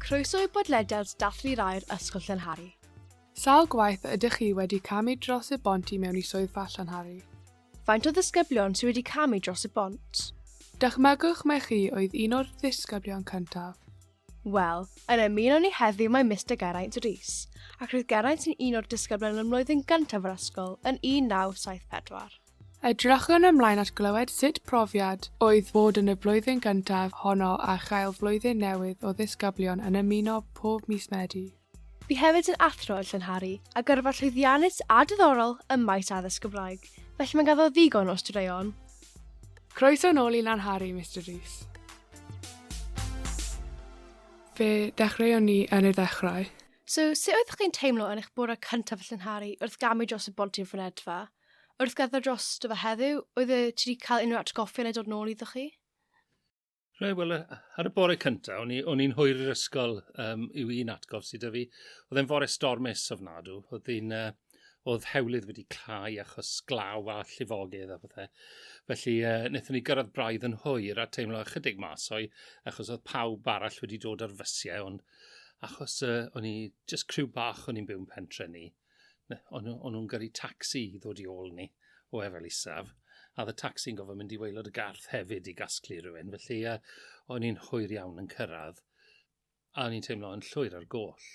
Croeso i bodlediad Dathlu'r Aer Ysgol Llanhari. Sawl gwaith ydych chi wedi camu dros y bont i mewn i swyddfa Llanhari? Faint o ddisgyblion sydd wedi camu dros y bont? Dychmygwch mai chi oedd un o'r ddisgyblion cyntaf. Wel, yn ymuno ni heddiw mae Mister Geraint Rees, ac roedd Geraint yn un o'r disgyblion yn mlwyddyn gyntaf yr ysgol yn 1974. Edrychwn ymlaen at glywed sut profiad oedd bod yn y flwyddyn gyntaf honno a chael flwyddyn newydd o ddisgyblion yn ymuno pob mis Medi. Bu hefyd yn athro yn Llanhari a gyrfa llwyddiannus a diddorol ym maes addysg Gymraeg, felly mae ganddo ddigon o straeon. Croeso nôl i Lanhari, Mister Rees. Fe ddechreuon ni yn y ddechrau. So, sut oeddech chi'n teimlo yn eich bore cyntaf yn Llanhari wrth gamu dros y bont i'r fynedfa? Wrth gerdded drosto fe heddiw, oedd e, ti wedi cael unrhyw atgoffa yn ei dod nôl iddo chi? Rhaid, wel, ar y bore cyntaf, o'n i'n i hwyr i'r ysgol um, yw un atgof sydd â fi. Oedd e'n fore stormus ofnadw. Oedd hi'n... Uh, oedd hewlydd wedi clau achos glaw a llifogydd a pethau. Felly, uh, wnaethon ni gyrraedd braidd yn hwyr a teimlo ychydig mas o'i achos oedd pawb arall wedi dod ar fysiau, ond achos uh, o'n i just criw bach o'n i'n byw'n pentre ni, o'n nhw'n gyrru tacsi i ddod i ôl ni o Efel Isaf, a oedd y tacsi'n gofyn mynd i waelod y garth hefyd i gasglu rhywun, felly uh, o'n i'n hwyr iawn yn cyrraedd, a o'n i'n teimlo yn llwyr ar goll.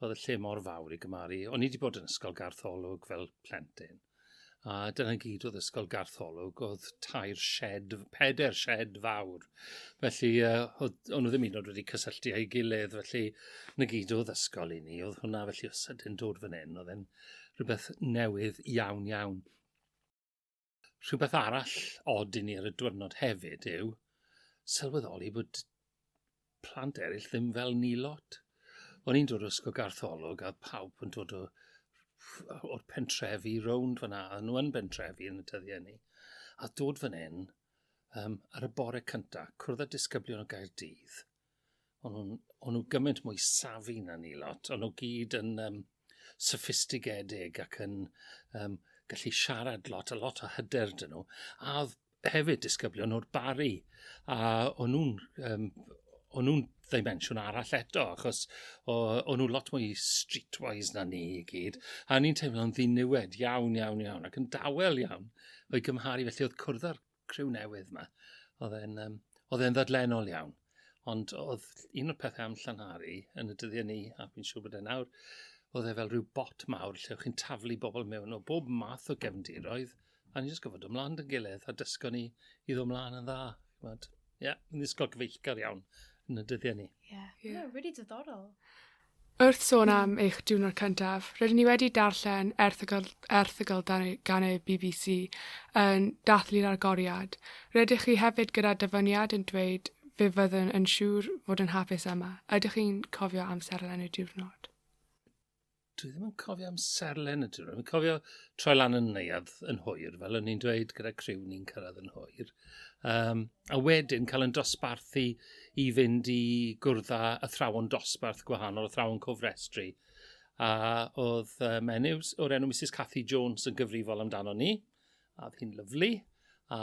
Oedd y lle mor fawr i gymaru. O'n i wedi bod yn ysgol garth olwg fel plentyn. a dyna gyd oedd Ysgol Gartholwg, oedd tair shed, peder shed fawr. Felly, uh, oedd, o'n nhw ddim un oed wedi cysylltu â'i gilydd, felly na gyd oedd ysgol i ni. Oedd hwnna felly o sydyn dod fan hyn, oedd e'n rhywbeth newydd iawn iawn. Rhywbeth arall od i ni ar y diwrnod hefyd yw sylweddoli bod plant eraill ddim fel ni lot. O'n i'n dod o ysgol gartholwg a pawb yn dod o o'r pentrefi rownd fyna, a nhw yn bentrefi yn y dyddiau ni. A dod fan hyn, um, ar y bore cyntaf, cwrdd â disgyblion o Gaerdydd. O'n nhw'n nhw gymaint mwy safi na ni lot, o'n nhw gyd yn um, soffistigedig ac yn um, gallu siarad lot, a lot o hyder dyn nhw. A oedd hefyd disgyblion o'r bari, a o'n nhw'n um, o'n nhw'n ddimensiwn arall eto, achos o'n nhw lot mwy streetwise na ni i gyd, a ni'n teimlo'n ddiniwed iawn, iawn, iawn, ac yn dawel iawn o'i gymharu, felly oedd cwrdd â'r criw newydd yma. Oedd e'n um, oedd e'n ddadlenol iawn. Ond oedd un o'r pethau am llanhari yn y dyddiau ni, a fi'n siŵr bod e nawr, oedd e fel rhyw bot mawr lle oedd chi'n taflu bobl mewn o bob math o gefndiroedd, a ni'n just gofod ymlaen yn gilydd a dysgo ni i ddod ymlaen yn dda. Ie, yeah, yn ysgol cyfeillgar iawn yn y dyddiau ni. Ie, yeah. yeah. yeah, really diddorol. Wrth sôn am eich diwrnod cyntaf, rydyn ni wedi darllen erthygl, erthygl gan y bbc yn dathlu'r agoriad. Rydych chi hefyd gyda dyfyniad yn dweud fe fyddwn yn siŵr fod yn hapus yma. Ydych chi'n cofio amserlen y diwrnod? dwi ddim yn cofio am serlen y diwrnod. Dwi'n cofio troi lan yn neuad yn hwyr, fel o'n i'n dweud gyda criw ni'n cyrraedd yn hwyr. Um, a wedyn cael yn dosbarthu i fynd i gwrdd â athrawon dosbarth gwahanol, athrawon cofrestru. A oedd uh, menyw o'r enw Mrs Cathy Jones yn gyfrifol amdano ni, a oedd hi'n lyflu, a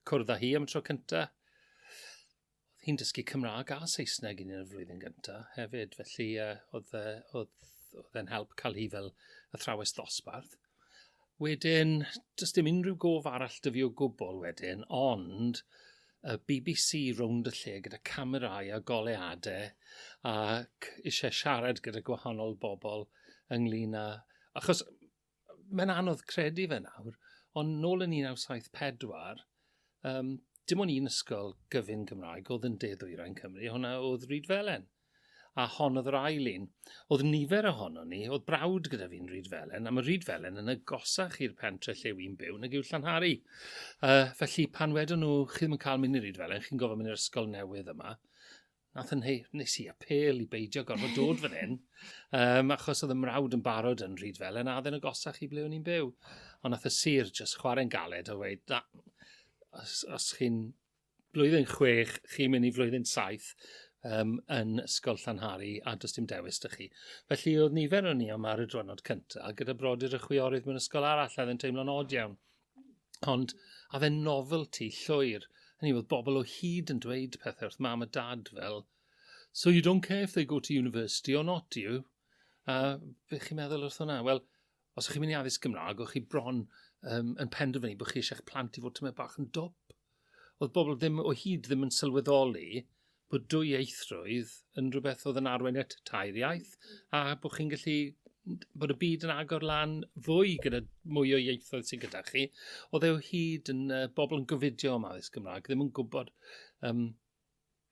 cwrdd â hi am y tro cyntaf. Oedd hi'n dysgu Cymraeg a Saesneg yn y flwyddyn gyntaf hefyd, felly uh, oedd, uh, oedd, oedd e'n help cael hi fel athrawes ddosbarth. Wedyn, does dim unrhyw gof arall dyfu o gwbl wedyn, ond y BBC rownd y lle gyda camerâu a goleuadau ac eisiau siarad gyda gwahanol bobl ynglyn â... Achos mae'n anodd credu fe nawr, ond nôl yn 1974, um, dim ond un ysgol gyfun Gymraeg oedd yn de-ddwyrain Cymru, hwnna oedd Rhyd Felen. A hon oedd yr ail un. Oedd nifer ohonon ni, oedd brawd gyda fi'n Rhydfelen, a mae Rhydfelen yn agosach i'r pentre lle wy'n byw nag yw Llanhari. Uh, felly, pan wedon nhw, chi ddim yn cael mynd i Rhydfelen, chi'n gofod mynd i'r ysgol newydd yma, nath yn hei, nes i apel i beidio gorfod dod fan hyn, um, achos oedd y mrawd yn barod yn rhyd fel yn adden y gosach i ble o'n i'n byw. Ond nath y sir jyst chwarae'n galed a dweud, na, os, os chi'n blwyddyn chwech, chi'n mynd i flwyddyn saith um, yn Ysgol Llanhari a does dim dewis dych chi. Felly oedd nifer o'n ni am ar y drwynod cyntaf gyda brodyr y chwiorydd mewn ysgol arall a oedd yn teimlo'n od iawn. Ond a fe'n novelty llwyr. Hynny oedd bobl o hyd yn dweud pethau wrth mam a dad fel So you don't care if they go to university or not, do you? A beth chi'n meddwl wrth hwnna? Wel, Os ych chi'n mynd i addysg Gymraeg, o'ch chi bron um, yn penderfynu bod chi eisiau eich plant i fod tymed bach yn dwp. Oedd bobl ddim o hyd ddim yn sylweddoli bod dwy eithrwydd yn rhywbeth oedd yn arwain at tair iaith, a bod chi'n gallu bod y byd yn agor lan fwy gyda mwy o ieithoedd sy'n gyda chi. Oedd e o hyd yn uh, bobl yn gofidio am addysg Gymraeg, ddim yn gwybod um,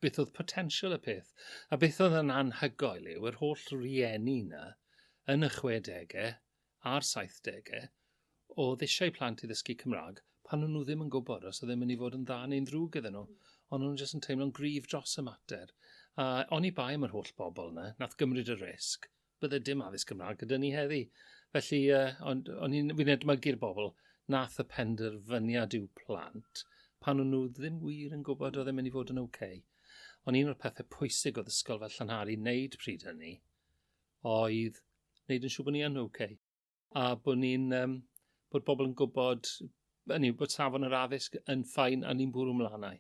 beth oedd potensial y peth. A beth oedd yn anhygoel yw yr holl rieni 'na yn y chwedegau a'r saithdegau oedd eisiau plant i ddysgu Cymraeg pan o'n nhw ddim yn gwybod os oedd e'n mynd i fod yn dda neu'n ddrwg iddyn nhw. Ond o'n nhw jyst yn teimlo'n gryf dros y mater. A oni bai am yr holl bobl 'na, nath gymryd y risg, bydde dim addysg Gymraeg gyda ni heddi. Felly, uh, ond, ond fi'n fi edmygu'r bobl nath y penderfyniad i'w plant pan o'n nhw ddim wir yn gwybod oedd e'n mynd i fod yn oce. Okay. Ond un o'r pethau pwysig oedd ysgol fel Llanhari wneud pryd hynny oedd wneud yn siŵr bod ni yn oce. Okay. a bod ni'n um, bod pobl yn gwybod hynny, bod safon yr addysg yn ffain a ni'n bwrw mlanau.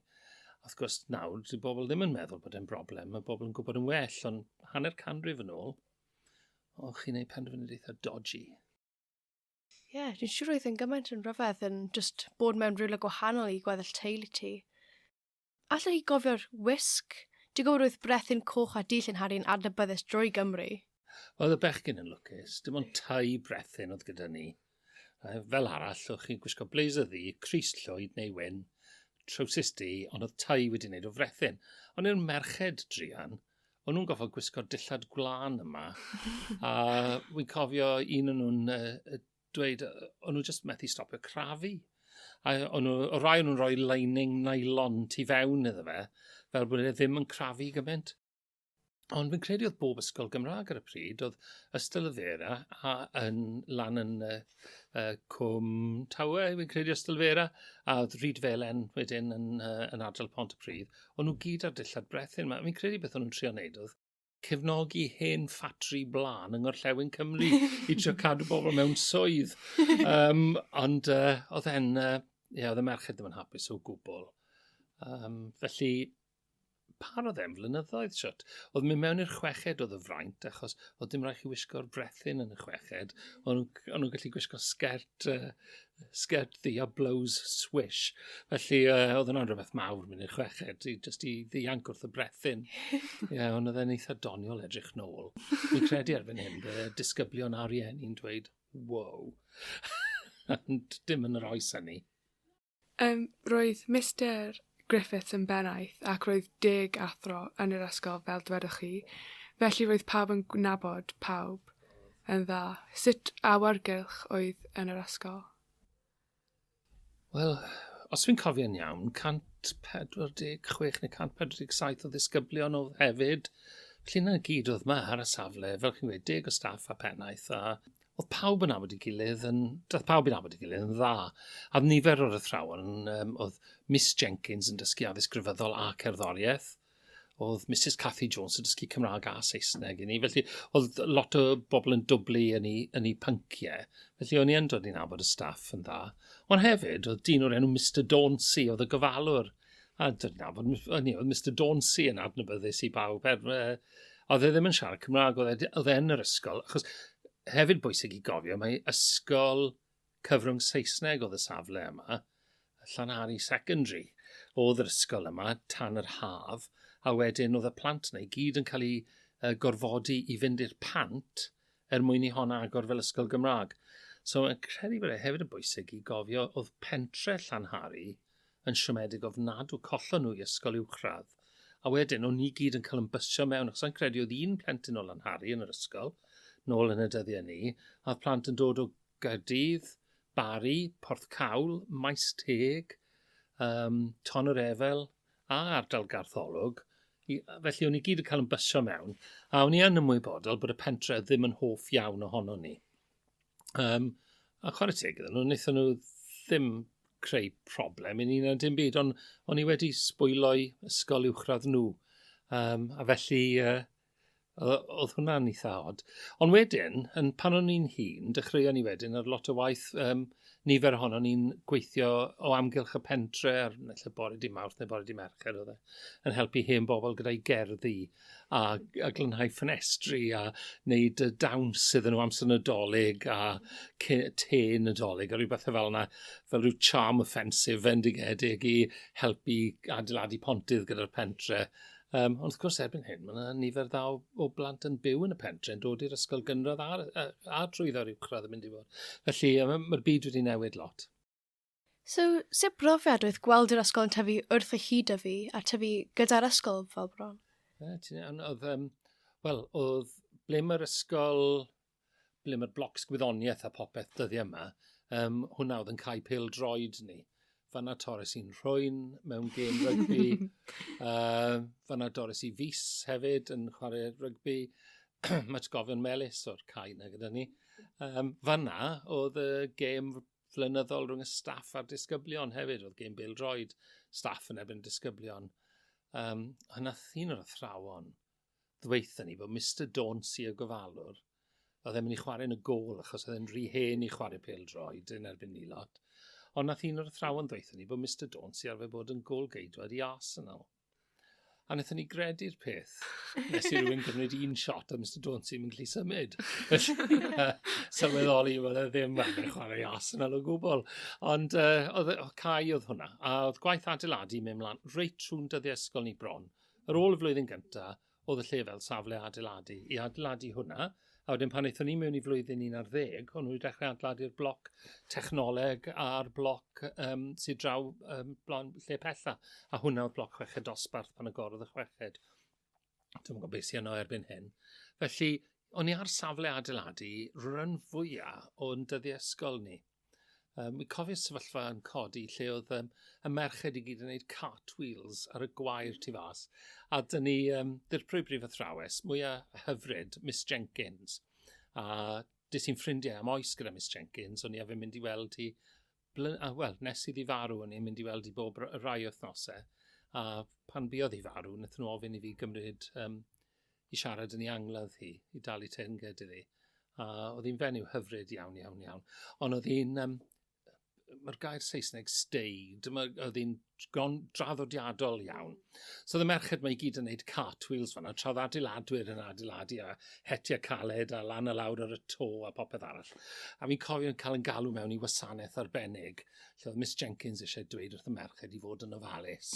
Wrth gwrs, nawr, dyw bobl ddim yn meddwl bod e'n broblem, mae bobl yn gwybod yn well, ond hanner canrif yn ôl, o, chi'n ei penderfyniad eitha dodgy. Ie, yeah, dwi'n siŵr oedd yn gymaint yn rhyfedd yn just bod mewn rhywle gwahanol i gweddill teulu ti. Allwch chi gofio'r wisg? Digwyddiad oedd brethyn coch a du llenhari'n adnabyddus drwy Gymru. Oedd y bechgyn yn lwcus, dim ond tai brethyn oedd gyda ni. Fel arall, o'ch chi'n gwisgo blazer ddu, crys llwyd neu wyn, trowsus du, ond oedd tai wedi wneud o frethyn. Ond i'r merched druan, o'n nhw'n gofod gwisgo dillad gwlân yma, a wy'n cofio un o'n nhw'n dweud, o'n nhw jyst methu stopio crafu. A o'n nhw, o rai o'n nhw'n rhoi lining nylon tu fewn iddo fe, fel bod e ddim yn crafu gymaint. Ond fi'n credu oedd bob ysgol Gymraeg ar y pryd, oedd Ystol y Fera a yn lan yn uh, uh, Cwm Tawe, fi'n credu Ystol y Fera, a oedd Rhyd Felen wedyn yn, uh, yn adral Pont y Pryd. O'n nhw gyd ar dillad brethyn yma. Fi'n credu beth o'n nhw'n trio wneud oedd cefnogi hen ffatri blaen yng Ngorllewin Cymru i trio cadw bobl mewn swydd. Um, ond uh, oedd e'n, uh, ie, oedd y merched ddim yn hapus o gwbl. Um, felly, par oedd e'n flynyddoedd siwt. Oedd mynd mewn i'r chweched oedd y fraint, achos oedd dim rhaid chi wisgo'r brethyn yn y chweched. Ond nhw'n gallu gwisgo sgert uh, Skirt ddu a blows swish. Felly, uh, oedd hwnna'n rhywbeth mawr mynd i'r chweched, i, just i ddianc wrth y brethyn. Ie, yeah, ond oedd e'n eitha doniol edrych nôl. Fi'n credu erbyn hyn, bydd y disgyblion ar ien i'n dweud, wow. Ond dim yn yr oes hynny. Um, roedd Mr Griffiths yn bennaeth ac roedd deg athro yn yr ysgol fel dwedoch chi, felly roedd pawb yn nabod pawb yn dda. Sut awyrgylch oedd yn yr ysgol? Wel, os fi'n cofio'n iawn, 146 neu 147 o ddisgyblion oedd hefyd, felly 'na gyd oedd 'ma ar y safle, fel chi'n gweud, deg o staff a pennaeth a oedd pawb yn abod i gilydd, yn, doedd pawb yn abod i gilydd yn dda. A nifer o'r athrawon, um, oedd Miss Jenkins yn dysgu addysg grefyddol a cerddoriaeth, oedd Mrs Cathy Jones yn dysgu Cymraeg a Saesneg i ni. Felly, oedd lot o bobl yn dwblu yn ei, yn ei pynciau. Felly, o'n i yn dod i'n abod y staff yn dda. Ond hefyd, oedd dyn o'r enw Mr Dawncy, oedd y gofalwr A dyna, hynny, oedd Mr Dauncey yn adnabyddus i bawb. Er, uh, oedd e ddim yn siarad Cymraeg, oedd e, e yn yr ysgol. Achos hefyd bwysig i gofio, mae ysgol cyfrwng Saesneg oedd y safle yma, Llanhari Secondary, oedd yr ysgol yma tan yr haf, a wedyn oedd y plant yna i gyd yn cael eu uh, gorfodi i fynd i'r pant er mwyn i hon agor fel ysgol Gymraeg. So, yn credu bod e hefyd yn bwysig i gofio oedd pentre Llanhari, yn siomedig ofnadw, collon nhw i ysgol uwchradd, a wedyn o'n ni gyd yn cael yn bysio mewn, achos sa'n credu oedd un plentyn o Lanhari yn yr ysgol, nôl yn y dyddiau ni, a oedd plant yn dod o Gaerdydd, Bari, Porthcawl, Maes Teg, um, Ton yr Efel, a ardal Gartholwg, i, felly o'n i gyd yn cael yn bysio mewn, a o'n i yn ymwybodol bod y pentre ddim yn hoff iawn ohono ni. Um, a chwarae teg iddyn nhw, wnaethon nhw ddim creu problem i ni na dim byd, ond o'n i wedi sbwylo'i ysgol uwchradd nhw. Um, a felly, uh, oedd hwnna'n eitha od. Ond wedyn, yn, pan o'n i'n hun, dechreuon ni wedyn ar lot o waith, um, nifer ohono ni'n gweithio o amgylch y pentre, ar naill bore di mawrth neu bore di mercher, oedd e, yn helpu hen bobl gyda'i gerddi. a a glanhau ffenestri a neud y dawns iddyn nhw amser Nadolig a ce- te Nadolig a ryw bethe fel 'na fel ryw charm offensive fendigedig i helpu adeiladu pontydd gyda'r pentre. Um, ond wrth gwrs erbyn hyn mae yna nifer dda o, o blant yn byw yn y pentre yn dod i'r ysgol gynradd a'r, a, a trwyddo'r uwchradd yn mynd i fod. Felly mae'r byd wedi newid lot. So, sut brofiad oedd gweld yr ysgol yn tyfu wrth y hyd o fi a tyfu gyda'r ysgol fel bron? Oedd, um, wel, oedd ble mae'r ysgol, ble mae'r blocs gwyddoniaeth a popeth dyddi yma, um, hwnna oedd yn cael pil droed ni. Fanna Torres i'n rhwy'n mewn gêm rygbi. uh, fanna Doris i Fus hefyd yn chwarae rygbi. Mae gofion melus o'r cae na gyda ni. Um, fanna oedd y gêm flynyddol rhwng y staff a'r disgyblion hefyd, oedd gen Bill Droid staff yn ebyn disgyblion. Um, hynna thyn o'r athrawon ddweitha ni bod Mr Dawn Sir Gofalwr oedd e'n mynd i chwarae yn y gol achos oedd e'n rhy hen i chwarae pel droed yn erbyn ni lot. Ond nath un o'r athrawon ddweud ni bod Mr Dawn sy'n arfer bod yn gol geidwad i Arsenal. A wnaethon ni gredu'r peth. Nes i rwy'n gymryd un shot a Mr Jones sy'n mynd gallu symud. Sylweddoli fod e ddim yn chwarae as yn alw gwbl. Ond uh, oedd, e, oedd cae oedd hwnna. A oedd gwaith adeiladu mewn mlaen reit trwy'n dyddiau ysgol ni bron. Ar ôl y flwyddyn gyntaf, oedd y lle fel safle adeiladu, i adeiladu hwnna, a wedyn pan eithon ni mewn i flwyddyn un ar ddeg, o'n nhw wedi dechrau adeiladu'r bloc technoleg a'r bloc um, sydd draw um, blaen lle pella, a hwnna oedd bloc chweched dosbarth pan agorodd y chweched. Dwi'n gwybod beth sy'n yno erbyn hyn. Felly, o'n i ar safle adeiladu rhan fwyaf o'n dyddiau ysgol ni. Um, mi cofio sefyllfa yn codi lle oedd um, y merched i gyd yn gwneud cartwheels ar y gwair tu fas. A dyn ni um, ddirprwy brif athrawes mwyaf hyfryd, Miss Jenkins. A dys ti'n ffrindiau am oes gyda Miss Jenkins, o'n i efe mynd i weld hi, a wel, nes i ddi farw, o'n i'n mynd i weld hi bob rai wythnosau. A pan biodd hi farw, wnaethon nhw ofyn i fi gymryd um, i siarad yn ei angladd hi, i dalu teyrnged iddi. A oedd hi'n fenyw hyfryd iawn, iawn, iawn. Ond oedd hi'n... Um, Mae'r gair Saesneg staid, oedd hi'n draddodiadol iawn. So oedd y merched mae i gyd yn gwneud cartwheels fanna, tra oedd adeiladwyr yn adeiladu a hetiau caled a lan a lawr ar y to a popeth arall. A fi'n cofio yn cael yn galw mewn i wasanaeth arbennig lle oedd Miss Jenkins eisiau dweud wrth y merched i fod yn ofalus.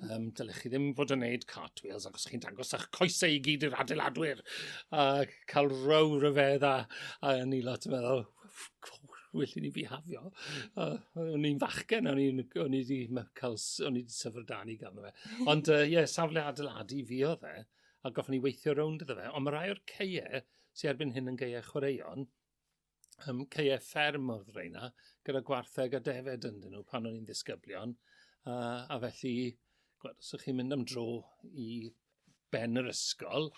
um, dylech chi ddim fod yn neud cartwheels ac os chi'n dangos eich coesau i gyd i'r adeiladwyr. A cael row ryfedd a, a ni lot yn meddwl, well i ni bihafio. Uh, o'n i'n fachgen, o'n i'n o'n i wedi cael, o'n i wedi syfr dan i gael fe. Ond ie, uh, yeah, safle adeiladu fi o dde, a goffwn ni weithio rownd iddo fe. Ond mae rai o'r ceie sy'n erbyn hyn yn geie chwaraeon, um, ceie fferm o'r freina, gyda gwartheg a defed yn dyn nhw pan o'n i'n ddisgyblion. A, a felly, gwed, os ydych chi'n mynd am dro i ben yr ysgol,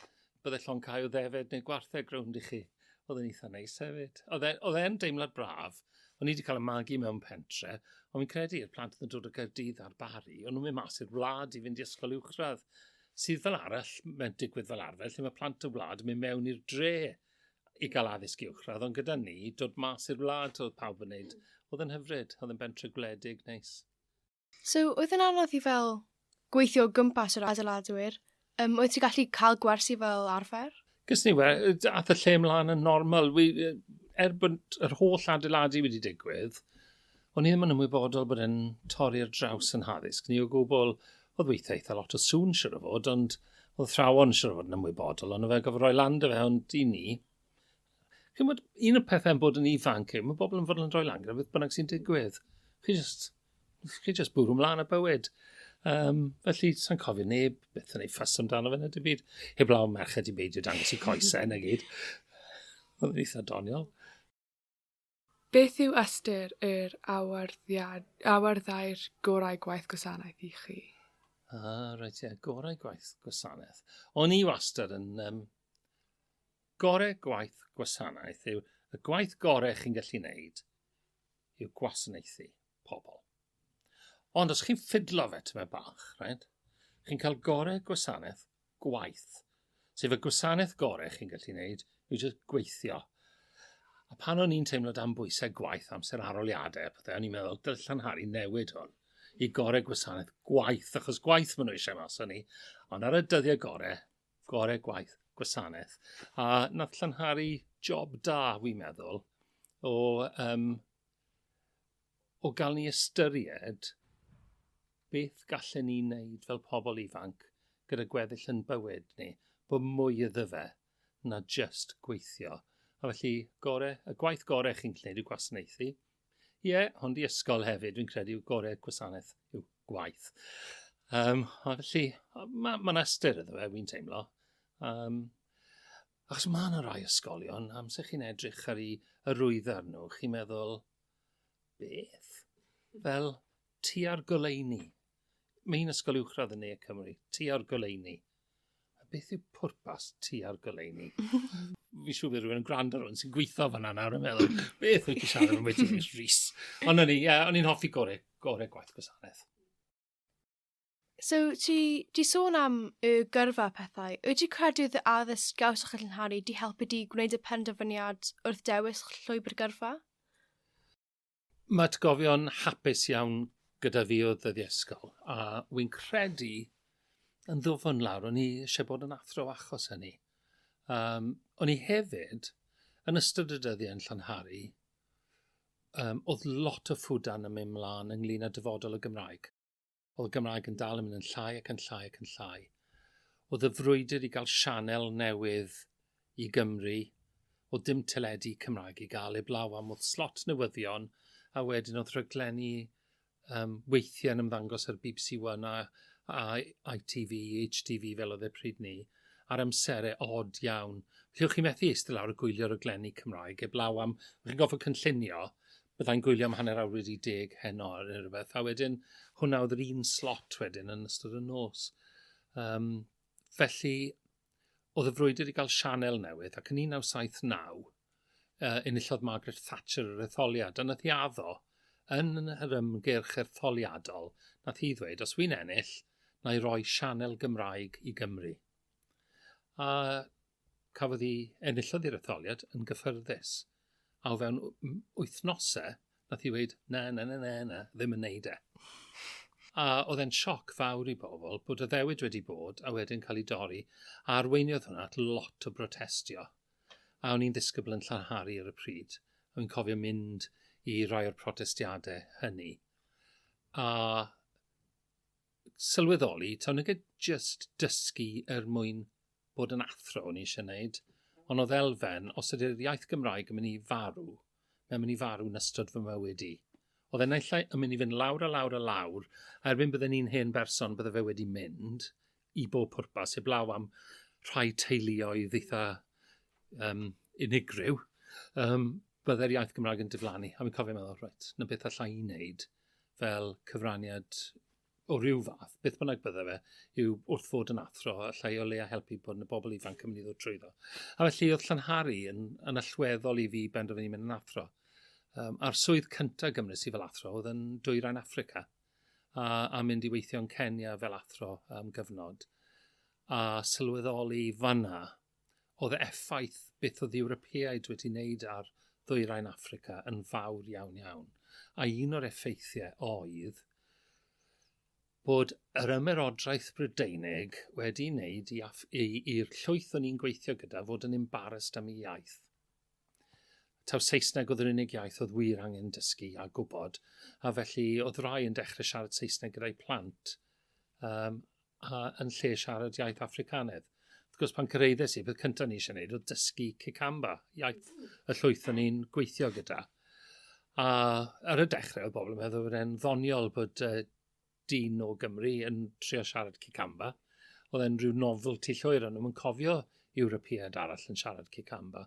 bydde llon cael ddefed neu gwartheg rownd i chi. Oedd yn eitha neis hefyd. Oedd e, e yn deimlad braf. O'n i wedi cael y magu mewn pentre, ond fi'n credu i'r plant yn dod o Gaerdydd ar Bari, ond nhw'n mynd mas i'r wlad i fynd i ysgol uwchradd sydd fel arall, mae'n digwydd fel arfer, lle mae plant y wlad yn mynd mewn i'r dre i gael addysg uwchradd, ond gyda ni, dod mas i'r wlad, oedd pawb yn wneud, oedd yn hyfryd, oedd yn bentre gwledig, neis. So, oedd yn anodd i fel gweithio o gwmpas yr adeiladwyr? Um, oedd ti'n gallu cael gwersi fel arfer? Gys ni we, ath y lle mlaen yn normal. Wi, er bod yr holl adeiladu wedi digwydd, O'n i ddim yn ymwybodol bod e'n torri ar draws yn haddysg ni o gwbl. Oedd weithiau eitha lot o sŵn siwr o fod, ond oedd thrawon siwr o fod yn ymwybodol, ond o fe gofod roi lan dy fe, ond i ni. Chi'n bod, un o'r pethau yn bod yn ifanc yw, mae bobl yn fod yn rhoi lan gyda beth bynnag sy'n digwydd. Chi just, chi just bwrw mlaen a bywyd. Um, felly, sa'n cofio neb beth yn ei ffas amdano fe na dim byd. Heb law merched i beidio dangos i coesau na gyd. Oedd yn eitha doniol. Beth yw ystyr yr awyrddau'r gorau gwaith gwasanaeth i chi? Ah, reit, ie, gorau gwaith gwasanaeth. O'n i wastad yn... Um, gorau gwaith gwasanaeth yw y gwaith gorau chi'n gallu wneud yw gwasanaethu. pobl. Ond os chi'n ffidlo fe tymed bach, right, chi'n cael gorau gwasanaeth gwaith. Sef y gwasanaeth gorau chi'n gallu gwneud yw jyst gweithio. A pan o'n i'n teimlo dan bwysau gwaith, amser aroliadau, pethau, o'n i'n meddwl, dylai Llanhari newid hwn i gorau gwasanaeth gwaith, achos gwaith maen nhw eisiau mas o'n ni. Ond ar y dyddiau gorau, gorau gwaith, gwasanaeth. A nath Llanhari job da, fi'n meddwl, o um, o gael ni ystyried beth gallen ni wneud fel pobl ifanc gyda gweddill yn bywyd ni, bod mwy iddo fe na just gweithio. A felly, gore, y gwaith gorau chi'n gwneud yw gwasanaethu. Ie, yeah, ond i ysgol hefyd, dwi'n credu yw gore gwasanaeth yw gwaith. Um, a felly, mae ma ystyr iddo fe, wy'n teimlo. Um, Achos mae yna rai ysgolion, amser chi'n edrych ar ei arwyddar nhw, chi'n meddwl, beth? Fel, ti ar goleuni. Mae un ysgol uwchradd yn ne Cymru, ti ar goleuni. A beth yw pwrpas ti ar goleuni? fi siŵr bod rhywun yn gwrando rhywun sy'n gweithio fan yna yn meddwl, beth wyt ti'n siarad am wedi Rhys? Ond o'n i, ie, o'n i'n hoffi gore, gore gwaith gwasanaeth. So, ti 'di sôn am y gyrfa a phethau. Wyt ti'n credu oedd y addysg gawsoch chi Llyn Harri 'di helpu di gwneud y penderfyniad wrth dewis llwybr gyrfa? Mae atgofion hapus iawn gyda fi o ddyddiau ysgol, a wy'n credu yn ddwfn lawr, o'n i eisiau bod yn athro achos hynny. Um, o'n i hefyd, yn ystod y dyddiau yn Llanhari, um, oedd lot o ffwdan yn mynd mlaen ynglyn â dyfodol y Gymraeg. Oedd y Gymraeg yn dal yn mynd yn llai ac yn llai ac yn llai. Oedd y frwydr i gael sianel newydd i Gymru, oedd dim teledu Cymraeg i gael eblaw am oedd slot newyddion, a wedyn oedd rhaglenni um, weithiau yn ymddangos ar BBC One a, a ITV, HTV fel oedd e pryd ni, ar amserau od iawn. Felly, o'ch chi'n methu eistedd lawr y gwylio'r rhaglenni Cymraeg eblaw am, o'ch chi'n goffa cynllunio, byddai'n gwylio am hanner awr wedi deg heno neu rhywbeth, a wedyn hwnna oedd yr un slot wedyn yn ystod y nos. Um, felly, oedd y frwydr i gael sianel newydd, ac yn 1979, uh, enillodd Margaret Thatcher yr etholiad, a nath i addo yn yr ymgyrch ertholiadol, nath hi ddweud, os wy'n ennill, na i roi sianel Gymraeg i Gymru. A Cafodd hi, enillodd hi'r etholiad yn gyffyrddus, a o fewn wythnosau, nath hi weud, na, na, na, na, na, ddim yn neud e. A oedd e'n sioc fawr i bobl bod y ddewyd wedi bod a wedyn cael ei dorri, a arweiniodd hwnna at lot o brotestio. A o'n i'n ddisgybl yn Llanhari ar y pryd, a fi'n cofio mynd i rai o'r protestiadau hynny. A sylweddoli, taw nage jyst dysgu er mwyn bod yn athro o'n i eisiau gwneud, ond oedd elfen, os ydy'r iaith Gymraeg yn mynd i farw, mae'n mynd i farw yn ystod fy mywyd i. Oedd e'n naill yn mynd i fynd lawr a lawr a lawr, a erbyn bydden i'n hen berson, bydde fe wedi mynd i bob pwrpas, heb law am rhai teuluoedd eitha um, unigryw, um, bydde'r iaith Gymraeg yn diflannu. A fi'n cofio meddwl, reit, na beth allai i wneud fel cyfraniad o ryw fath, beth bynnag bydde fe, yw wrth fod yn athro, allai o leia helpu bod yn y bobl ifanc yn mynd i ddod trwyddo. A felly oedd Llanhari yn, yn allweddol i fi benderfynu mynd yn athro. Um, a'r swydd cyntaf gymryd i fel athro oedd yn dwyrain Africa, a, a mynd i weithio yn Kenya fel athro am gyfnod, a sylweddoli fanna Oedd y effaith beth oedd Ewropeaid wedi wneud ar ddwyrain Affrica yn fawr iawn iawn, a un o'r effeithiau oedd bod yr ymerodraeth Brydeinig wedi wneud i Af- i i'r llwyth o'n i'n gweithio gyda fod yn embarrassed am 'i iaith. Taw Saesneg oedd yr unig iaith oedd wir angen dysgu a gwybod, a felly oedd rai yn dechrau siarad Saesneg gyda'i plant, um, a yn lle siarad iaith Africanedd. Wrth gwrs, pan cyreiddes i, peth cyntaf ni eisiau gwneud oedd dysgu Cicamba, iaith y llwyth o'n i'n gweithio gyda. A ar y dechrau, oedd bobl yn meddwl bod e'n ddoniol bod uh, dyn o Gymru yn trio siarad Cicamba. Oedd e'n rhyw novelty llwyr, ond nhw'n cofio Ewropeaidd arall yn siarad Kikamba.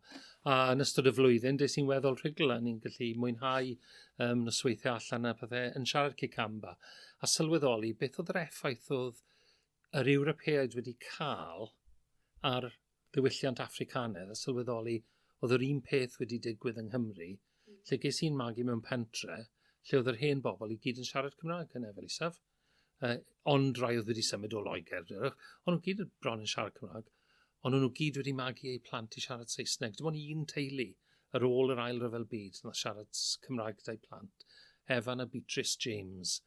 A yn ystod y flwyddyn, des i'n weddol rhugl a ni'n gallu mwynhau um, nosweithiau allan a pethau yn siarad Kikamba. A sylweddoli beth oedd yr effaith oedd yr Ewropeaid wedi cael ar ddiwylliant Africanedd a sylweddoli oedd yr un peth wedi digwydd yng Nghymru, lle ges i'n magu mewn pentre, lle oedd yr hen bobl i gyd yn siarad Cymraeg yn efel isaf. Uh, ond rai oedd wedi symud o Loegr, ond nhw gyd bron yn siarad Cymraeg, ond nhw gyd wedi magu eu plant i siarad Saesneg. Dim ond un teulu ar ôl yr ail ryfel byd nath siarad Cymraeg dau plant, Evan a Beatrice James,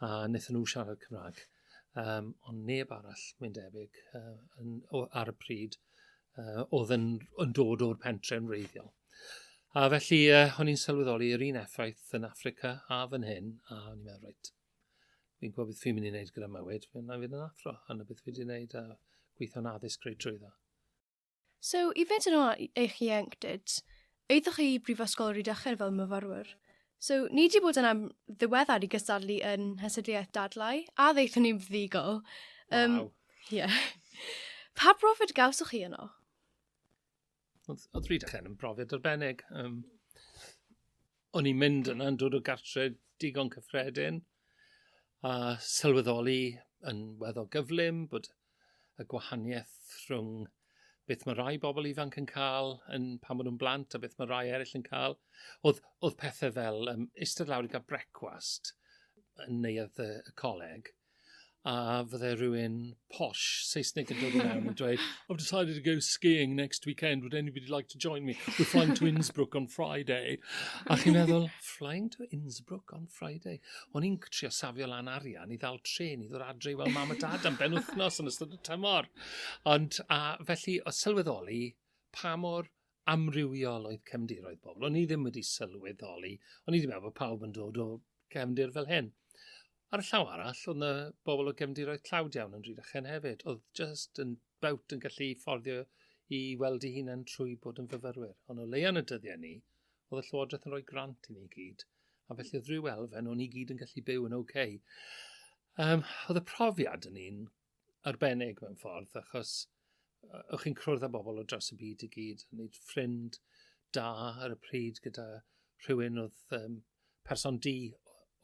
a wnaethon nhw siarad Cymraeg. Um, ond neb arall, mae'n debyg, uh, yn, o, ar y pryd, uh, oedd yn, yn dod o'r pentre yn wreiddiol. A felly, uh, o'n i'n sylweddoli yr un effaith yn Africa a fan hyn, a o'n i'n meddwl, reit, right, Fi'n gwybod beth fi'n mynd i wneud gyda mywyd, fi'n mynd i fynd yn athro, a na beth fi wedi wneud a gweithio'n addysg greu trwy dda. So, i fynd yn ôl eich ieuenctid, eiddoch chi i Brifysgol Rhydychen fel myfyrwyr. So, ni wedi bod yn am ddiweddar i gystadlu yn Hysydliaeth Dadlau, a ddeithon ni'n ddigol. Um, wow. Yeah. Pa brofiad gawsoch chi yno? Odd odd Rhydychen yn brofiad arbennig yym o'n i'n mynd yna yn dod o gartre digon cyffredin a sylweddoli yn weddol gyflym bod y gwahanieth rhwng beth mae rhai bobl ifanc yn cael yn pan maen nhw'n blant a beth mae rhai eraill yn cael. Oedd, oedd pethau fel um, eistedd lawr i gael brecwast yn neuadd y, y coleg a fydde rhywun posh Saesneg yn dod yn iawn yn dweud, I've decided to go skiing next weekend, would anybody like to join me? We're flying to Innsbruck on Friday. A chi'n meddwl, flying to Innsbruck on Friday? O'n i'n trio safio lan arian i ddal tren i ddod adre i weld mam a dad am ben wythnos yn ystod y tymor. Ond, a felly, o sylweddoli pa mor amrywiol oedd cefndiroedd pobl. O'n i ddim wedi sylweddoli, o'n i wedi meddwl bod pawb yn dod o cefndir fel hyn. Ar y llaw arall, oedd yna bobl o gefndiroedd tlawd iawn yn Rhydychen hefyd, oedd just yn bawt yn gallu fforddio i weld ei hunain trwy bod yn fyfyrwyr. Ond o leian y dyddiau ni, oedd y Llywodraeth yn rhoi grant i ni gyd, a felly oedd rhyw elfen o'n i gyd yn gallu byw yn oce. Okay. Um, oedd y profiad yn un arbennig mewn ffordd, achos o'ch chi'n cwrdd â bobl o dros y byd i gyd, yn neud ffrind da ar y pryd gyda rhywun oedd um, person di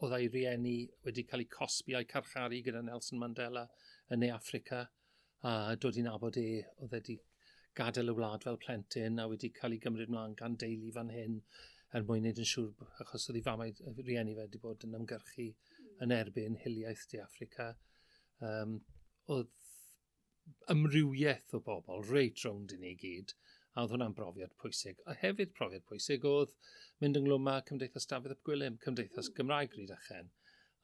oedd ei rieni wedi cael eu cosbi a'i carcharu gyda Nelson Mandela yn Ne Africa a dod i'n abod e oedd wedi gadael y wlad fel plentyn a wedi cael ei gymryd mlaen gan deulu fan hyn er mwyn wneud yn siŵr achos oedd ei famau rieni fe wedi bod yn ymgyrchu yn erbyn hiliaeth De Africa Um, oedd ymrywiaeth o bobl reit rownd i ni gyd, a oedd hwnna'n brofiad pwysig. A hefyd profiad pwysig oedd mynd ynglwm â Cymdeithas Dafydd Ap Gwilym, Cymdeithas mm. Gymraeg Ryd Achen,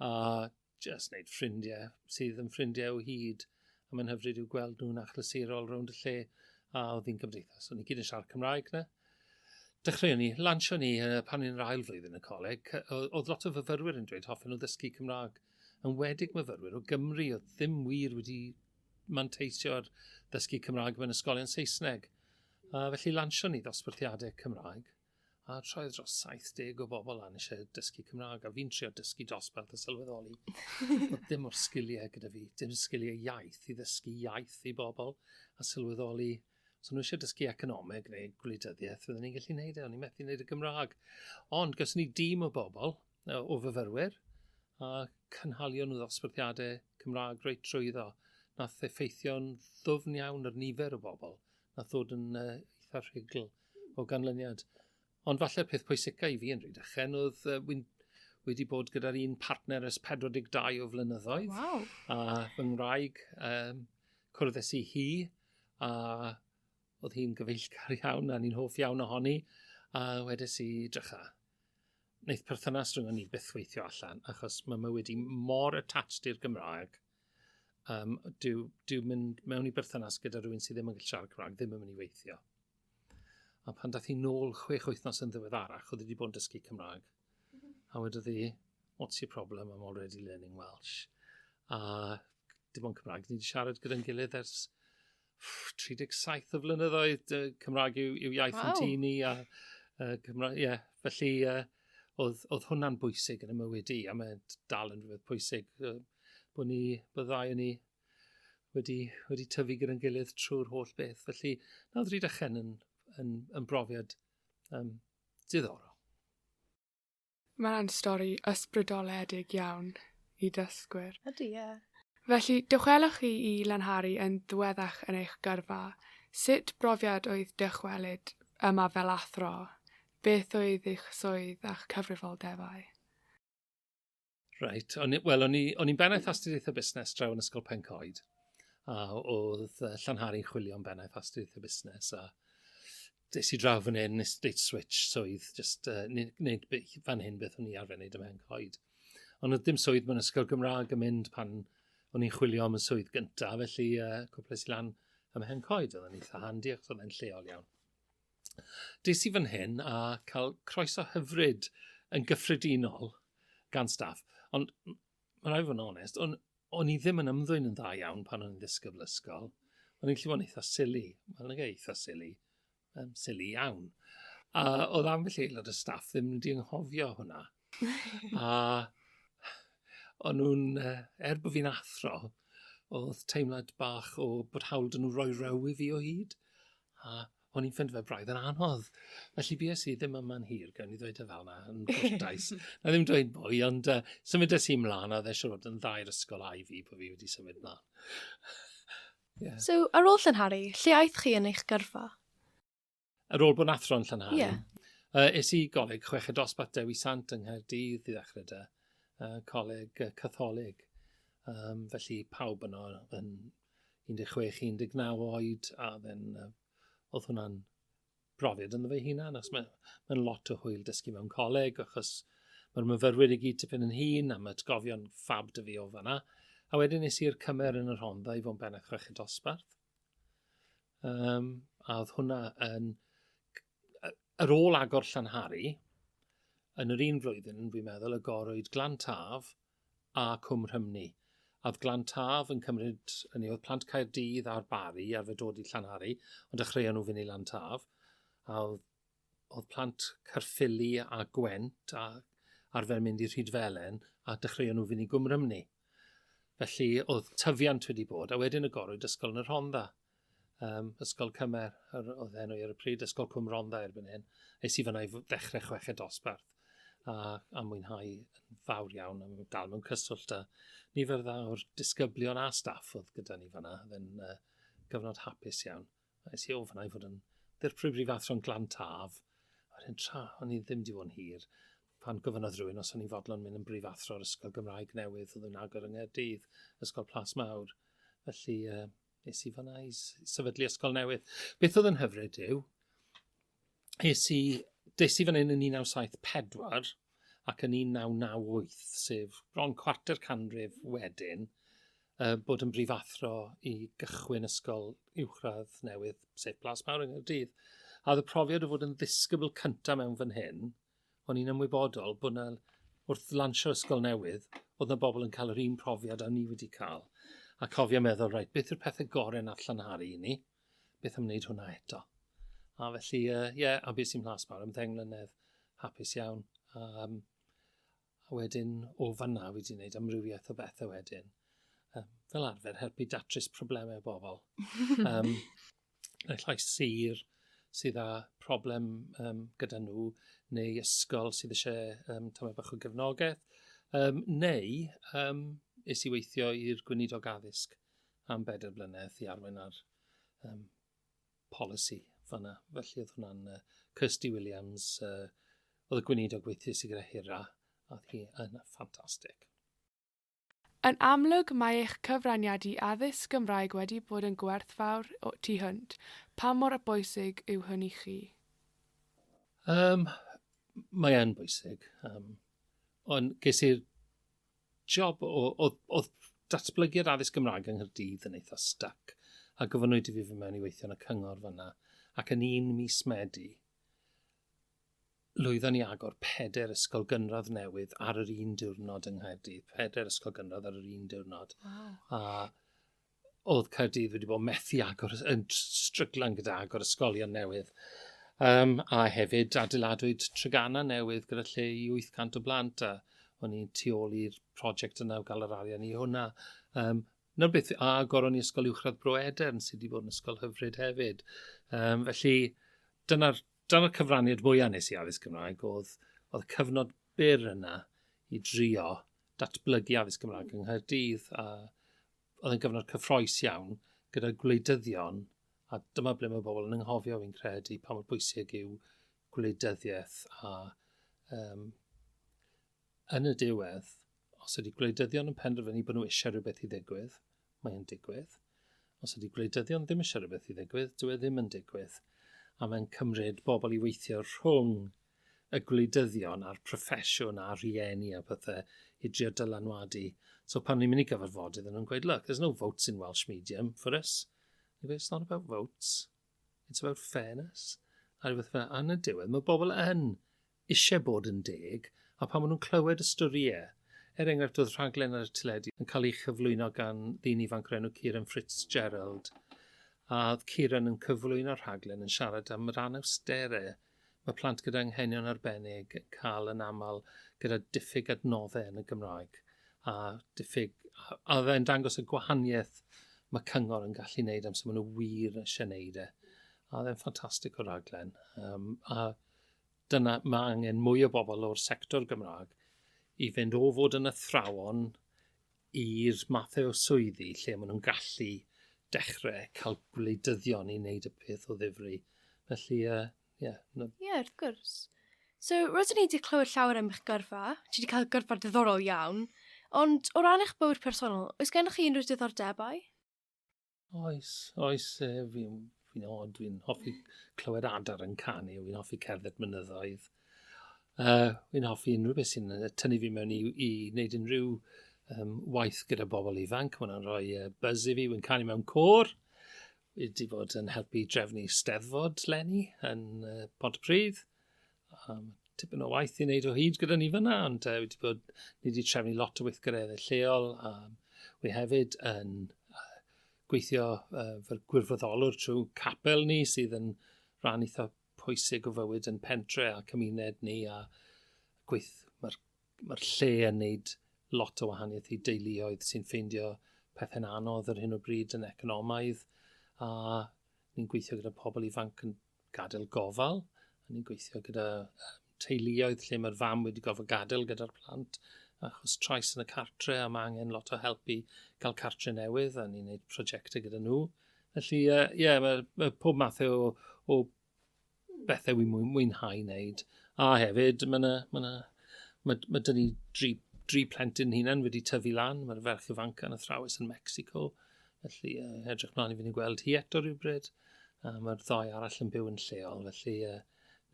a just wneud ffrindiau sydd yn ffrindiau o hyd, a mae'n hyfryd i'w gweld nhw'n achlysurol rownd y lle, a oedd hi'n cymdeithas. O'n i gyd yn siarad Cymraeg na. Dechreuon ni, lansio ni pan ni'n yr ail flwyddyn y coleg, oedd lot o fyfyrwyr yn dweud hoffen nhw ddysgu Cymraeg. enwedig myfyrwyr o Gymru oedd ddim wir wedi manteisio ar ddysgu Cymraeg mewn ysgolion Saesneg. A felly lansion ni ddosbarthiadau Cymraeg, a troedd dros 70 o bobl lan eisiau dysgu Cymraeg, a fi'n trio dysgu dosbarth a sylweddoli. Oedd dim o'r sgiliau gyda fi, dim sgiliau iaith i ddysgu iaith i bobl, a sylweddoli So nhw eisiau dysgu economeg neu gwleidyddiaeth, fydden ni'n gallu gwneud e, o'n i'n methu gwneud y Gymraeg. Ond gawson ni dîm o bobl, o fyfyrwyr a cynhalion nhw ddosbarthiadau Cymraeg reit trwyddo. Nath effeithio'n ddwfn iawn yr nifer o bobl nath ddod yn uh, eitha rhugl o ganlyniad. Ond falle peth pwysica i fi yn rhaid ychen oedd uh, wy'n wedi bod gyda'r un partner ys 42 o flynyddoedd. Wow. A fy ngwraig, um, cwrdd i hi, a Oedd hi'n gyfeillgar iawn a ni'n hoff iawn ohoni, a wedes i, drycha, wneud perthynas rhwng ni byth weithio allan, achos mae mywyd i mor attached i'r Gymraeg, um, dyw, dyw mynd mewn i berthynas gyda rhywun sydd ddim yn gallu siarad Cymraeg ddim yn mynd i weithio. A pan dath i nôl chwech wythnos yn ddiweddarach, oedd wedi bod yn dysgu Cymraeg. A wedodd hi, what's your problem, I'm already learning Welsh. A dim ond Cymraeg, ni wedi siarad gyda'n gilydd ers 37 o flynyddoedd, uh, Cymraeg yw, yw iaith wow. yn tŷ ni, a uh, Cymraeg, ie, yeah, felly uh, oedd, oedd hwnna'n bwysig yn y mywyd i, a mae'n dal yn rhywbeth pwysig, uh, bod ni, byddai ni wedi, wedi tyfu gyda'n gilydd trwy'r holl beth. Felly, na oedd Rhydychen yn, yn, yn brofiad um, diddorol. Mae'n stori ysbrydoledig iawn i ddysgwyr. Ydy, ie. Felly, dychwelwch chi i Lanhari yn ddiweddach yn eich gyrfa. Sut brofiad oedd dychwelyd yma fel athro? Beth oedd eich swydd a'ch cyfrifoldebau? Reit, wel, o'n i'n bennaeth astudiaethau busnes draw yn Ysgol Pencoed, a oedd Llanhari'n chwilio am bennaeth astudiaethau busnes, a Des i draw fan hyn, nes dweud switch swydd, just uh, wneud fan hyn beth o'n i arfer wneud yma yn coed. Ond oedd dim swydd mewn ysgol Gymraeg yn mynd pan o'n i'n chwilio am y swydd gyntaf, felly uh, cwples i lan ym hen coed, oedd yn eitha handi ac oedd yn lleol iawn. Des i fan hyn a cael croeso hyfryd yn gyffredinol gan staff, ond Mae rhaid fod yn onest, o'n, o'n i ddim yn ymddwyn yn dda iawn pan o'n i'n ddisgybl ysgol. O'n i'n llywon eitha sili. Mae'n lygu eitha sili. Um, sili iawn. A oedd am felly aelod y staff ddim wedi ynghofio hwnna. a o'n nhw'n, uh, er bod fi'n athro, oedd teimlad bach o bod hawl dyn nhw roi rew i fi o hyd. A o'n i'n ffind fe braidd yn anodd. Felly fi es i ddim yma'n hir, gael ni ddweud y e fel yna, yn gwrtais. na ddim dweud mwy, ond uh, symud es i mlaen, a dde siwr yn ddair ysgol a i fi bod fi wedi symud mlaen. yeah. So, ar ôl Llanhari, lle aeth chi yn eich gyrfa? Ar ôl bod yn athro'n Llanhari, yeah. uh, es i goleg chweched dosbarth Dewi Sant yng Nghaerdydd i ddechrau da, uh, coleg uh, catholig. Um, felly pawb yno yn 16, 19 oed, a then, uh, oedd hwnna'n brofiad ynddo fe hunan, achos mae'n ma lot o hwyl dysgu mewn coleg, achos mae'r myfyrwyr i gyd tipyn yn hun, a mae atgofion ffab dy fi o fanna. A wedyn nes i'r cymer yn yr Honda i fod yn ben a chrech y dosbarth. Um, a oedd hwnna yn... Yr ôl agor Llanhari, yn yr un flwyddyn, fi'n meddwl, y gorwyd Glan Taf, a Cwm Rhymni, a oedd Glan Taf yn cymryd, hynny oedd plant Caerdydd a'r Bari i arfer dod i Llanhari, ond dechreuon nhw fynd i Lan Taf, a oedd, oedd plant Caerffili a Gwent a arfer mynd i Rhydfelen, a dechreuon nhw fynd i Gwm Rhymni. Felly oedd tyfiant wedi bod, a wedyn y gorwyd ysgol yn y Rhondda. um, Ysgol Cymer, yr, oedd enw ar y pryd, Ysgol Cwm Rondda erbyn hyn. Es i fyna i ddechrau chweched dosbarth a, a mwynhau yn fawr iawn am dal mewn cyswllt a nifer dda o'r disgyblion a staff oedd gyda ni fyna. Oedd e'n uh, gyfnod hapus iawn. Es i o fyna i fod yn ddirprwy brifathro'n glan taf. Oedd e'n tra, o'n i ddim di fod yn hir. Pan gofynnodd rhywun os o'n i'n fodlon mynd yn brifathro'r ysgol Gymraeg newydd oedd yn agor yng Nghaerdydd, Ysgol Plas Mawr. Felly, uh, nes i fanna i sefydlu ysgol newydd. Beth oedd yn hyfryd yw, es i, des i fan hyn yn 1974 ac yn 1998, sef bron cwarter canrif wedyn, uh, bod yn brifathro i gychwyn ysgol uwchradd newydd, sef Plas Mawr yng Nghyrdydd. A oedd y profiad o fod yn ddisgybl cyntaf mewn fan hyn, O'n i'n ymwybodol bod 'na wrth lansio'r ysgol newydd o'dd 'na bobl yn cael yr un profiad a ni wedi cael a cofio meddwl reit beth yw'r pethe gore nath llanharu i ni? Beth am wneud hwnna eto? A felly yy ie a bues i'n Mhlas Mawr am ddeng mlynedd hapus iawn a yym A wedyn o fanna wedi wneud amrywiaeth o bethau wedyn. Um, fel arfer, helpu datrys problemau o bobl. um, neu llai sir sydd â problem um, gyda nhw, neu ysgol sydd eisiau um, tamau bach o gefnogaeth, um, neu um, is i weithio i'r gweinidog addysg am bedair blynedd i arwain ar um, polisi fanna. Felly oedd hwnna'n uh, Kirsty Williams, uh, oedd y gweinidog gweithio sy'n gyda Hira, a hi yn ffantastig. Yn amlwg mae eich cyfraniad i addysg Gymraeg wedi bod yn gwerthfawr tu hwnt. Pa mor bwysig yw hwn i chi? Um, mae e'n bwysig. Um, ond ges i'r job o, oedd, oedd datblygiad addysg Gymraeg yng Nghyrdydd yn eitha stuck, a gofynnwyd i fi fy mewn i weithio yn y cyngor fyna, ac yn un mis Medi, lwyddon ni agor peder ysgol gynradd newydd ar yr un diwrnod yng Nghyrdydd, peder ysgol gynradd ar yr un diwrnod. Wow. A oedd Caerdydd wedi bod methu agor, yn stryglan gyda agor ysgolion newydd. Um, a hefyd adeiladwyd Trygana newydd gyda lle i 800 o blant a o'n i'n tu ôl i'r prosiect yna o gael yr arian i hwnna. Um, Nawr beth, a agor o'n i ysgol uwchradd Bro Edern sydd wedi bod yn ysgol hyfryd hefyd. Um, felly, dyna'r dyna cyfraniad mwyaf nes i addysg Gymraeg oedd, oedd cyfnod byr yna i drio datblygu addysg Gymraeg yng Nghaerdydd a oedd yn gyfnod cyffroes iawn gyda gwleidyddion, a dyma ble mae pobl yn ynghofio fi'n credu pa mor bwysig yw gwleidyddiaeth a um, yn y diwedd, os ydy gwleidyddion yn penderfynu bod nhw eisiau rhywbeth i ddigwydd, mae'n digwydd. Os ydy gwleidyddion ddim eisiau rhywbeth i ddigwydd, dyw e ddim yn digwydd. A mae'n cymryd bobl i weithio rhwng y gwleidyddion a'r proffesiwn a'r rhieni a pethe i drio dylanwadu. So pan ni'n mynd i gyfarfodydd yn nhw'n gweud, look, there's no votes in Welsh medium for us. Ni'n gweud, it's not about votes. It's about fairness. A rhywbeth fel, a yn y diwedd, mae bobl yn eisiau bod yn deg, a pan maen nhw'n clywed y storiau, er enghraifft oedd rhaglen ar y teledu yn cael ei chyflwyno gan ddyn ifanc o'r enw Kieran Fitzgerald, a oedd Kieran yn cyflwyno'r rhaglen yn siarad am yr anawsterau Mae plant gyda anghenion arbennig yn cael yn aml gyda diffyg adnoddau yn y Gymraeg a diffyg... a oedd e'n dangos y gwahaniaeth mae cyngor yn gallu wneud amser maen nhw wir eisiau wneud e. A oedd e'n ffantastig o raglen. Um, a dyna, mae angen mwy o bobl o'r sector Gymraeg i fynd o fod yn athrawon i'r mathau o swyddi lle maen nhw'n gallu dechrau cael gwleidyddion i wneud y peth o ddifri. Felly, ie. Uh, yeah, no. yeah, wrth gwrs. So, roeddwn i wedi clywed llawer am eich gyrfa. Ti wedi cael gyrfa diddorol iawn. Ond o ran eich bywyd personol, oes gennych chi unrhyw diddordebau? Oes, oes, fi'n fi od, fi'n hoffi clywed adar yn canu, fi'n hoffi cerdded mynyddoedd. Uh, fi'n hoffi unrhyw beth sy'n tynnu fi mewn i, i wneud unrhyw um, waith gyda bobl ifanc. Mae'n hwnna'n rhoi uh, buzz i fi, fi'n canu mewn cwr. Wedi bod yn helpu drefnu steddfod lenni yn uh, Pont Prydd. Um, tipyn o waith i wneud o hyd gyda ni fyna, ond uh, wedi bod, ni wedi trefnu lot o weithgareddau lleol. Um, we hefyd yn uh, gweithio uh, fel gwirfoddolwr trwy capel ni sydd yn rhan eitha pwysig o fywyd yn pentre a cymuned ni a gweith, mae'r ma lle yn neud lot o wahaniaeth i deuluoedd sy'n ffeindio pethau'n anodd ar hyn o bryd yn economaidd a ni'n gweithio gyda pobl ifanc yn gadael gofal. A ni'n gweithio gyda teuluoedd lle mae'r fam wedi gofod gadael gyda'r plant achos trais yn y cartre a mae angen lot o help i gael cartre newydd a ni'n gwneud prosiectau gyda nhw. Felly, ie, uh, yeah, mae, mae pob math o, o bethau wy'n mwynhau wneud. A hefyd, mae yna, mae yna, mae, mae dyn ni dri, dri plentyn hunan wedi tyfu lan. Mae'r ferch ifanc yn athrawes yn Mexico. Felly, uh, edrych mlaen i fynd i gweld hi eto rhywbryd. Uh, Mae'r ddoi arall yn byw yn lleol, felly uh,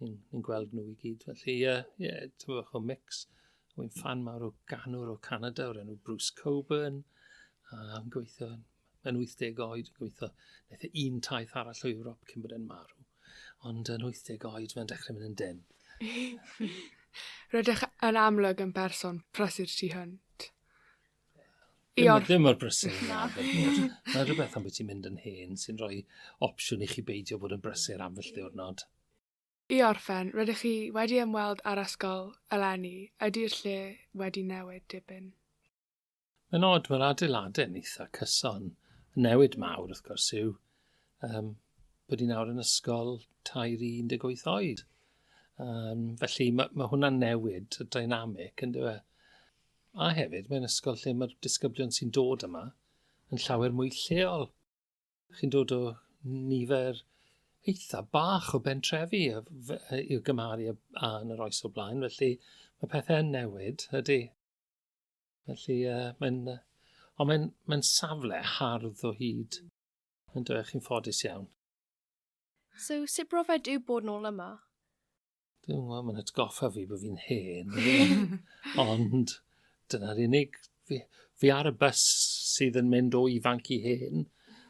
ni'n ni gweld nhw i gyd. Felly, ie, uh, yeah, ti'n bach o mix. Wy'n fan mawr o ganwr o Canada o'r enw Bruce Coburn. Uh, yn gweithio yn yn 80 oed, gweithio, naeth e un taith arall o Ewrop cyn bod e'n marw. Ond yn 80 oed, mae'n dechrau mynd yn den. Rydych yn amlwg yn person prysur tu hwnt. Iod. Ddim mor brysur yn arfer bod. Mae rhywbeth am beth ti'n mynd yn hen sy'n rhoi opsiwn i chi beidio bod yn brysur am felly o'r nod. I orffen, rydych chi wedi ymweld â'r ysgol eleni, ydy'r lle wedi newid dipyn? Mae'n od, mae'r adeiladau yn eitha cyson. Y newid mawr, wrth gwrs, yw um, bod ni'n awr yn ysgol tair i 18 oed. Um, felly mae, mae hwnna'n newid y dynamic, yn dweud. A hefyd, mae'n ysgol lle mae'r disgyblion sy'n dod yma yn llawer mwy lleol. Chi'n dod o nifer eitha bach o bentrefi i'w gymharu â yn yr oes o blaen, felly mae pethau'n newid, ydy. Felly, uh, mae'n... Uh, ond mae'n mae safle hardd o hyd. Yn dweud, chi'n ffodus iawn. So, sut brofiad yw bod nôl yma? Dwi'n gwybod, mae'n atgoffa fi bod fi'n hen. Ond dyna'r unig... Fi, fi ar y bus sydd yn mynd o ifanc i hen,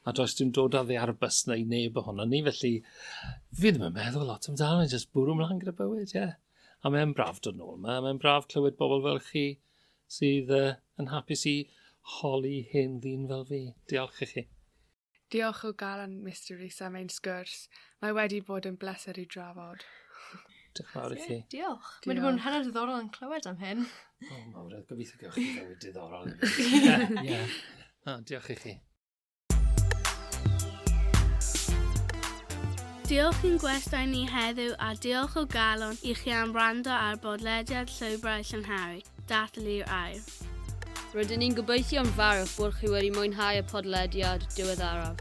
a does dim dod â ddi ar y bus na i neb ohono ni, felly fi ddim yn meddwl lot amdano, jyst bwrw mlaen gyda bywyd, ie. Yeah. A mae'n braf dod nôl yma, mae'n braf clywed bobl fel chi sydd uh, yn hapus i holi hen ddyn fel fi. Diolch i chi. Diolch o galon Mister Rees am ein sgwrs. Mae wedi bod yn bleser i drafod. Diolch mawr i chi. Diolch. Mae'n bod yn hanner diddorol yn clywed am hyn. O, mawr, oedd gobeithio gewch chi fywyd diddorol. Ie. O, diolch i chi. Diolch i'n gwestai ni heddiw a diolch o galon i chi am wrando ar bodlediad Llwybrau Llynhari, Dathlu i'r Aer. Rydyn ni'n gobeithio'n fawr bod chi wedi mwynhau y podlediad diweddaraf.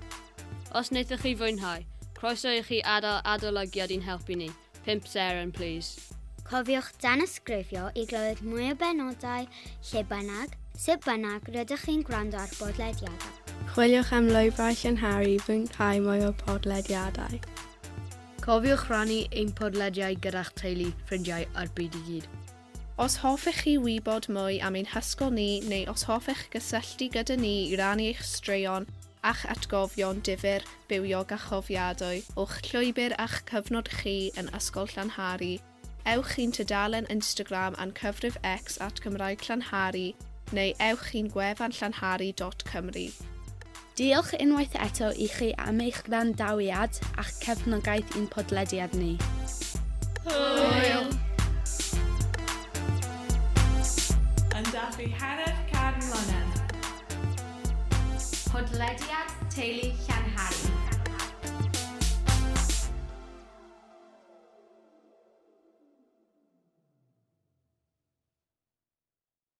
Os wnaethoch chi fwynhau, croeso i chi adael adolygiad i'n helpu ni, 5 seren plîs. Cofiwch danysgrifio i glywed mwy o benodau lle bynnag, sut bynnag rydych chi'n gwrando ar bodlediadau. Chwiliwch am lwybrau llynharu i fwynhau mwy o podlediadau. Cofiwch rannu ein podlediau gyda'ch teulu, ffrindiau a'r byd i gyd. Os hoffech chi wybod mwy am ein hysgol ni neu os hoffech gysylltu gyda ni i rannu eich straeon a'ch atgofion difyr, bywiog a chofiadwy o'ch llwybr a'ch cyfnod chi yn Ysgol Llanhari, ewch i'n tudalen Instagram a'n cyfrif X at Gymraeg Llanhari neu ewch i'n gwefan llanhari dot cymru. Diolch unwaith eto i chi am eich gwrandawiad a'ch cefnogaeth i'n podlediad ni. Hwyl! Yn dathlu hanner can mlynedd. Podlediad Teulu Llanhari.